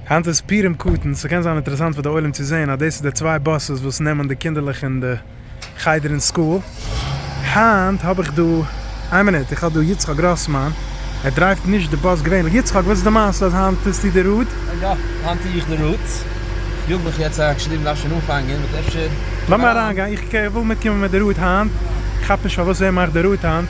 היינט איז פורים קטן, ס'קען זיין אינטערעסאנט פאר די עולם צו זעהן אז דאס איז די צוויי באסעס וואס נעמען די קינדערלעך אין די חדר אין סקול. היינט האב איך דא, איין מינוט, איך האב דא יצחק גראסמאן, ער דרייווט נישט די באס געווענליך, יצחק וואס איז די מעשה אז היינט טוסטו די רוט? יא, היינט טוה איך די רוט, יאג מיך יעצט אריין, כ'שריב מ'דארף שוין אנפאנגען, באט אפשר. לאמיר אריינגיין, איך וויל מיטקומען מיט די רוט היינט, כ'כאפ נישט פארוואס ער מאכט די רוט היינט.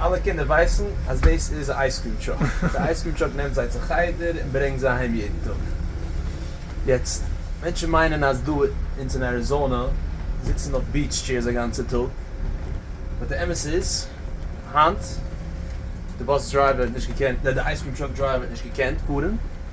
אלע קינדער ווייסן אז דאס איז א אייז קרים טראק, די אייז קרים טראק נעמט זיי צו חדר און ברענגט זיי אהיים יעדן טאג, יעצט מענטשן מיינען אז דא אונז אין אריזאנא זיצן אויף ביעטש טשעירס א גאנצע טאג, באט די אמת איז היינט די באס דרייווער האט נישט געקענט, נע די אייז קרים טראק דרייווער האט נישט געקענט פארן.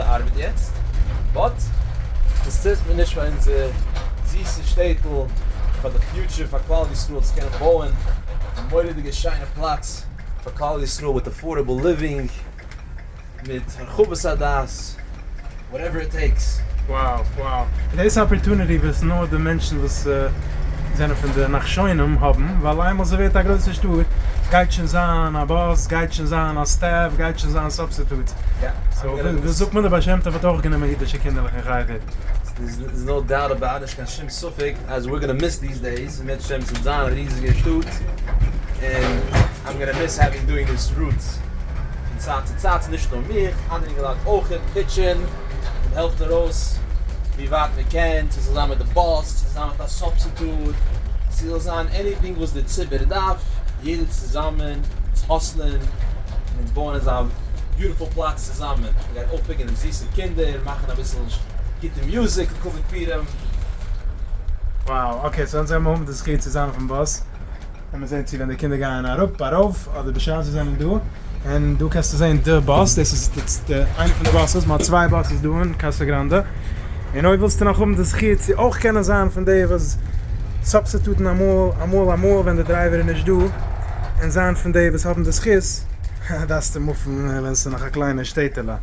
ארבעט יעצט באט דאס טוט מען נישט פאר אונזער זיסע שטעטל פאר די פיוטשער פאר כלל ישראל צו קענען בויען א מורא'דיגע שיינע פלאץ פאר כלל ישראל מיט עפארדעבל ליווינג מיט הרחבת הדעת וואטעווער איט טעיקס. Wow wow דאס אפערטוניטי וואס נאר די מענטשן וואס זענען פון די נחשונים האבן ווייל איינמאל ס'ווערט א גרויסע שטאט גייט שוין זיין א באס גייט שוין זיין א סטעף גייט שוין זיין ס'טוט זיך. דאס זאגט מען די בעל שם טוב האט אויך גענומען אידישע קינדערלעך אין חדר. דעירס איז נאו דאוט אבאוט נישט קיין שום ספק אז וויר גאנא מיס דיס דעיס מוטשע צו זיין א ריזיגע שטאט און איים גאנא מיס העווינג דואינג דיס רוטס פון צייט צו צייט נישט נאר מיך אנדערע אינגעלייט אויכעט פיטשען מען העלפט ארויס ווי ווייט מען קען צו ס'זאל זיין מיט די באס צו זיין מיט א סובסיטוט צו זאל זיין עניטינג וואס די ציבור דארף יעדער צוזאמען צו האסלען. און אונז בויען אזא ביוטיפול פלאץ צוזאמען, מען גייט אויפפיקען דעם זיסע קינדער, מאכען אביסל גוטע מוזיק און קאווע פירען. Wow, אקעי, סאו אונז האבן האבן די זכי' צו זיין אויפן באס, לאמיר זעהן צו ווען די קינדער גייען אראפ, ארויף, אדער בשעת זיי זענען דא, און דא קענסטו זעהן די באס, דאס איז די איינע פון די באסעס, מ'האט צוויי באסעס דא אין קאסא גראנדע, און אויב ווילסטו נאך האבן די זכי' צו אויך קענען זיין פון די וואס סאבסיטוטן אמאל, אמאל אמאל ווען די דרייווער איז נישט דא, און זיין פון די וואס האבן די זכות, דארפסטו מופן ווען ס'איז נאך א קליינע שטעטעלע. און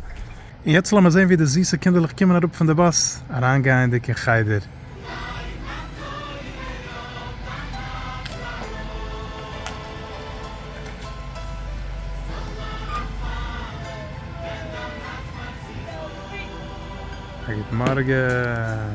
יעצט לאמיר זען ווי די זיסע קינדערלעך קומען אראפ פון די באס, אריינגייענדיג אין חדר. א גוט מארגן.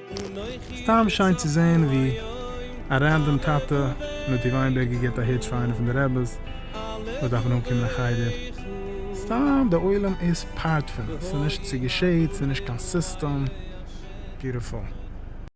סתם שיין צו זעהן ווי א רענדאם טאטע מיט די וויינבערגער גיבט א היטש פאר איינע פון די רעבעס וואס דארפן אנקומען אין חדר, סתם די עולם איז פארט פון עס, ס'איז נישט צו געשעהט, ס'איז נישט קיין סיסטעם, ביוטיפול.